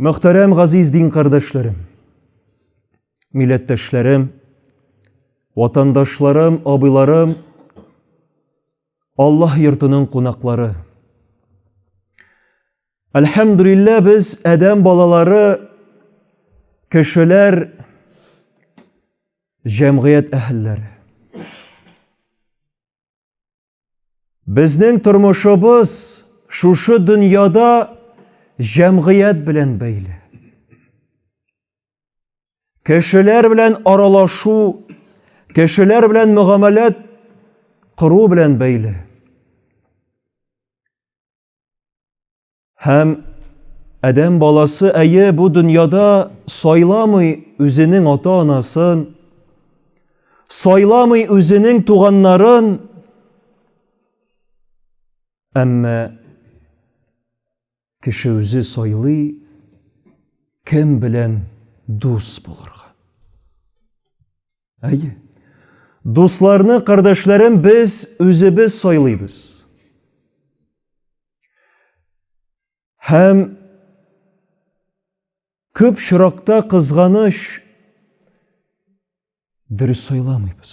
Мөхтәрәм газиз дин кардәшләрем, милләттәшләрем, ватандашларым, абыйларым, Аллаһ йортының кунаклары. Әлхәмдүлиллә без әдәм балалары кешеләр җәмгыять әһелләре. Безнең тормышыбыз шушы дөньяда җәмгыять белән бәйле. Кешеләр белән аралашу, кешеләр белән мөгамәләт кыру белән бәйле. Һәм Адәм баласы әйе бу дөньяда сайламый үзенең ата-анасын, сайламый үзенең туганнарын, әмма кеше үзе сайлый кем белән дус булырга. Әйе. Дусларны, кардәшләрен без үзебез сайлыйбыз. Һәм күп чыракта кызганыш дөрес сайламыйбыз.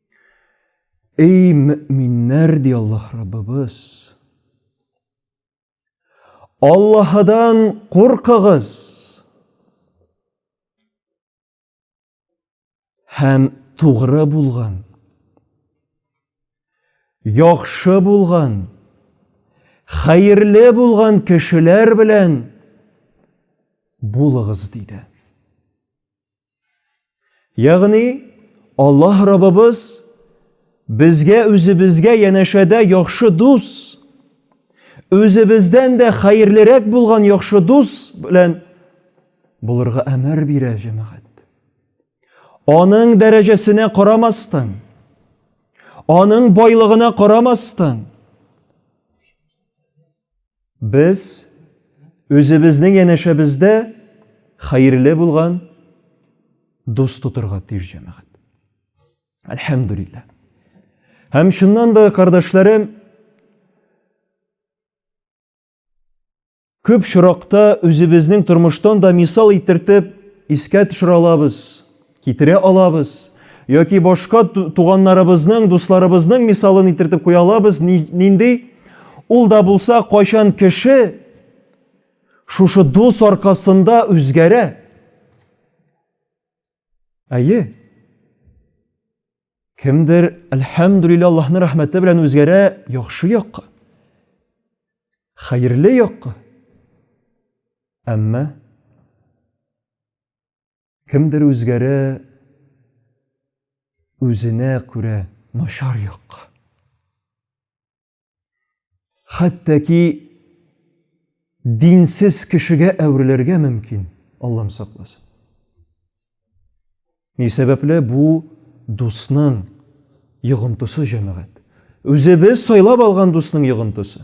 Эй, мөминнәр, ди Аллаһ Раббыбыз, Аллаһыдан куркыгыз һәм тугры булган, яхшы булган, хәерле булган кешеләр белән булыгыз, диде. Ягъни Аллаһ Раббыбыз безгә үзебезгә янәшәдә яхшы дус, үзебездән дә хәерлерәк булган яхшы дус белән булырга әмер бирә җәмәгать. Аның дәрәҗәсенә карамастан, аның байлыгына карамастан, Без үзебезнең янәшәбездә хәерле булган дус тотырга тиеш җәмәгать. Әлхәмдүлилләһ. Һәм шуннан да, кардәшләрем, күп шуракта үзебезнең тормыштан да мисал итертеп искә төшерә алабыз. Китерә алабыз. Яки башка туганнарыбызның, дусларыбызның мисалын итертеп куя алабыз. Нинди? Ул да булса, кайчан кеше шушы дус аркасында үзгәрә. Әйе. Кемдер, әлхәмдүлилләһ, Аллаһның рәхмәте белән үзгәрә яхшы якка. Хәерле якка. Әмма Кемдер үзгәрә үзенә күрә начар якка. Хәтта ки динсез кешегә әверелергә мөмкин, Аллам сакласын. Ни сәбәпле бу дусның йогынтысы җәмәгать. Үзебез сайлап алган дусның йогынтысы.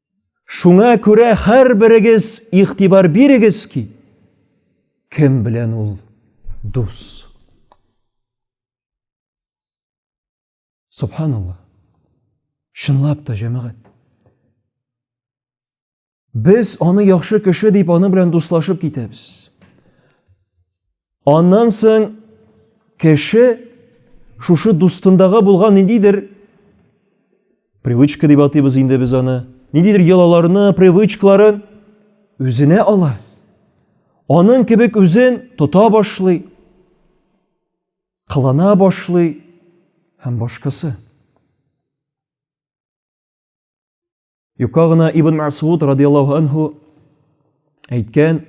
Шуңа күрә һәрберегез игътибар бирегез ки, кем белән ул дус. Субханаллах. Чынлап та, җәмәгать. Без аны яхшы кеше дип аны белән дуслашып китәбез. Аннан соң кеше шушы дустындага булган ниндидер привычка дип атыйбыз инде без аны, ниндидер йолаларны, привычкаларын үзенә ала. Аның кебек үзен тота башлый, кылана башлый һәм башкасы. Юка гына Ибн Масгуд радияллаһу анһу әйткән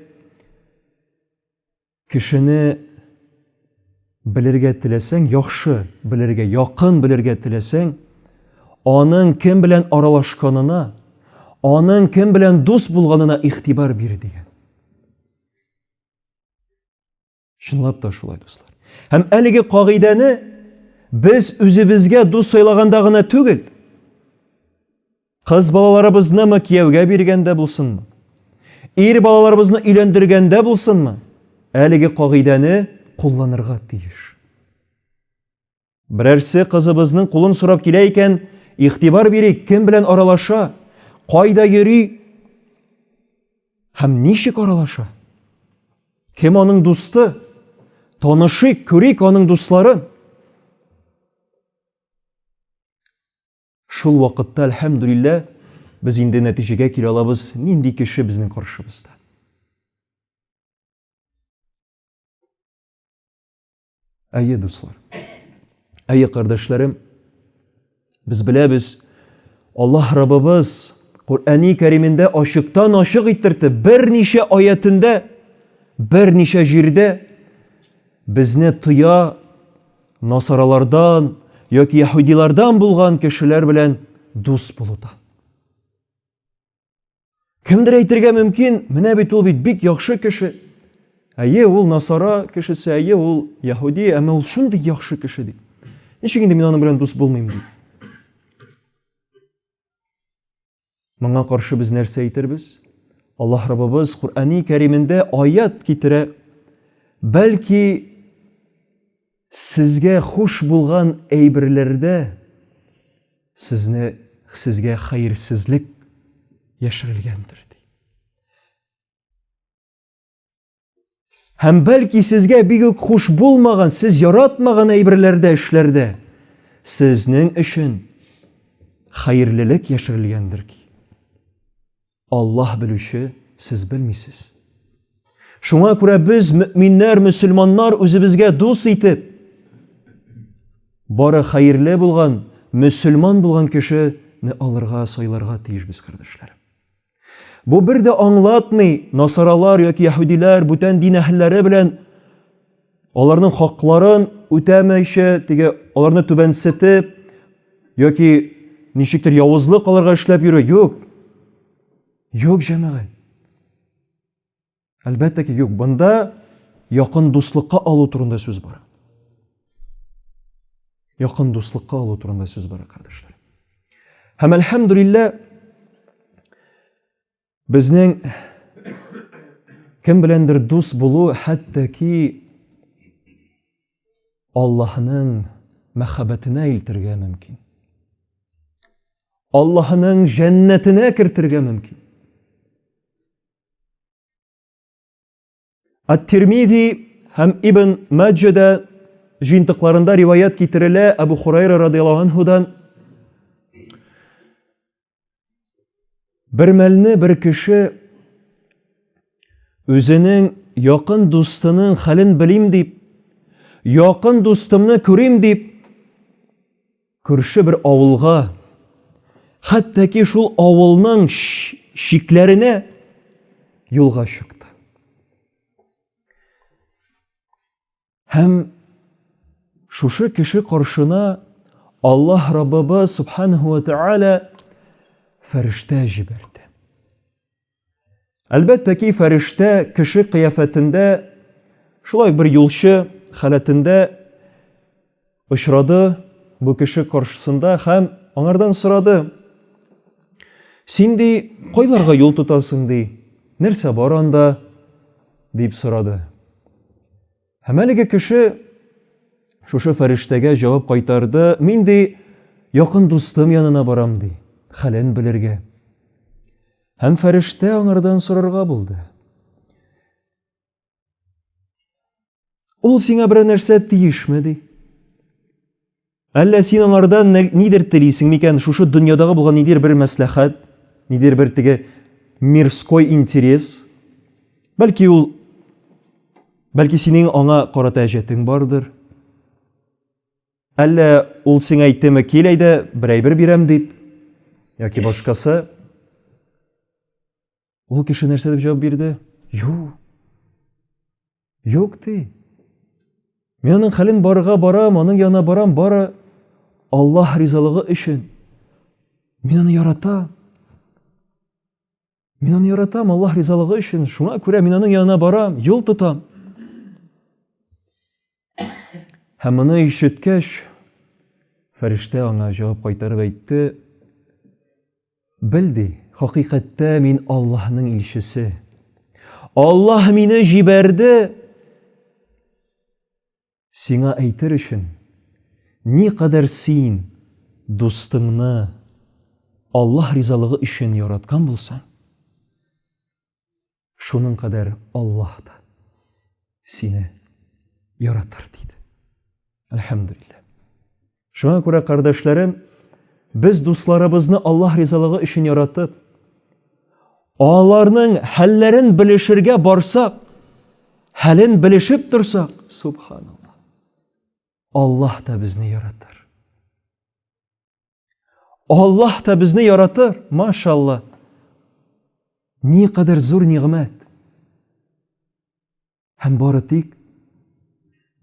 кешене белергә теләсәң, яхшы белергә, якын белергә теләсәң, аның кем белән аралашканына, аның кем белән дус булганына игътибар бир дигән. Чынлап та шулай, дуслар. Һәм әлеге кагыйдәне без үзебезгә дус сайлаганда гына түгел, кыз балаларыбызны мы кияүгә биргәндә булсынмы, ир балаларыбызны өйләндергәндә булсынмы, әлеге кагыйдәне кулланырга тиеш. Берәрсе кызыбызның кулын сорап килә икән, игътибар бирик, кем белән аралаша, кайда йөри һәм ничек аралаша? Кем аның дусты? Танышыйк, күрик аның дусларын. Шул вакытта, әлхәмдүлиллә, без инде нәтиҗәгә килә алабыз, нинди кеше безнең каршыбызда. Әйе, дуслар. Әйе, кардәшләрем. Без беләбез, Аллаһ Раббыбыз Куръәни Кәримендә ачыктан ачык иттерде, берничә аятендә, берничә җирдә безне тыя насаралардан яки яһудилардан булган кешеләр белән дус булудан. Кемдер әйтергә мөмкин, менә бит ул бит бик яхшы кеше. Әйе, ул насара кешесе, әйе, ул яһуди, әмма ул шундый яхшы кеше дип. Ничек инде мин аның белән дус булмыйм дип. Моңа каршы без нәрсә әйтербез? Аллаһ Раббыбыз Куръани Кәримендә аят китерә. Бәлки Сезгә хуш булган әйберләрдә сезне сезгә хәерсезлек яшерелгәндер, ди. Һәм бәлки сезгә бик үк хуш булмаган, сез яратмаган әйберләрдә, эшләрдә сезнең өчен хәерлелек яшерелгәндер ки. Аллаһ белүче, сез белмисез. Шуңа күрә без, мөминнәр, мөселманнар, үзебезгә дус итеп, бары хәерле булган, мөселман булган кешене алырга, сайларга тиешбез, кардәшләр. Бу бер дә аңлатмый, насаралар яки яһүдиләр бүтән дин әһелләре белән аларның хакларын үтәмәйчә, теге аларны түбәнсетеп яки ничектер явызлык аларга эшләп йөрү юк. Юк, җәмәгать. Әлбәттә ки, юк. Бында якын дуслыкка алу турында сүз бара. Якын дуслыкка алу турында сүз бара, кардәшләр. Һәм әлхәмдүлиллә, Безнең кем беләндер дус булу хәтта ки Аллаһның мәхәббәтенә илтергә мөмкин. Аллаһның җәннәтенә кертергә мөмкин. Ат-Тирмизи һәм Ибн Маҗҗада җыентыкларында риваят китерелә Абу Хурайра радияллаһу анһудан. Бер мәлне бер кеше үзенең якын дустының хәлен белим дип, якын дустымны күрим дип, Күрше бер авылга, хәтта ки шул авылның чикләренә юлга чыкты. Һәм шушы кеше каршына Аллаһ Раббыбыз Субханаху ва Тааля фәрештә җибәрде. Әлбәттә ки, фәрештә кеше кыяфәтендә, шулай ук бер юлчы халәтендә очрады бу кеше каршысында һәм аңардан сорады, Син, ди, кайларга юл тотасың, ди, нәрсә бар анда? дип сорады. Һәм әлеге кеше шушы фәрештәгә җавап кайтарды, мин ди, якын дустым янына барам ди, хәлен белергә. Һәм фәрештә аңардан сорарга булды. Ул сиңа берәр нәрсә тиешме ди? Әллә син аңардан нидер телисең микән, шушы дөньядагы булган нидер бер мәсләхәт, нидер бер теге мирской интерес? Бәлки ул Бәлки синең аңа карата әҗәтең бардыр? Әллә ул сиңа әйтеме кил әйдә, бер әйбер бирәм дип, яки башкасы? Ул кеше нәрсә дип җавап бирде? Юк. Юк ди. Мин аның хәлен барырга барам, аның янына барам, бары Аллаһ ризалыгы өчен. Мин аны яратам. Мин аны яратам Аллаһ ризалыгы өчен. Шуңа күрә мин аның янына барам, юл тотам. Һәм моны ишеткәч, фәрештә аңа җавап кайтарып әйтте, Бел ди, хакыйкатьтә мин Аллаһның илчесе. Аллаһ мине җибәрде сиңа әйтер өчен, никадәр син дустыңны Аллаһ ризалыгы өчен яраткан булсаң, Шуның кадәр Аллаһ та сине яратыр, диде. Әлхәмдүлилләһ. Шуңа күрә, кардәшләрем, без дусларыбызны Аллаһ ризалыгы өчен яратып, аларның хәлләрен белешергә барсак, хәлен белешеп торсак, субханаллаһ. Аллаһ та безне яратыр. Аллаһ та безне яратыр, машалла. Ни кадәр зур нигъмәт. Һәм бары тик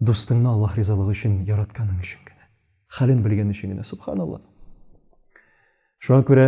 дустыңны Аллаһ ризалыгы өчен яратканың өчен генә, хәлен белгән өчен генә, субханалла. Шуңа күрә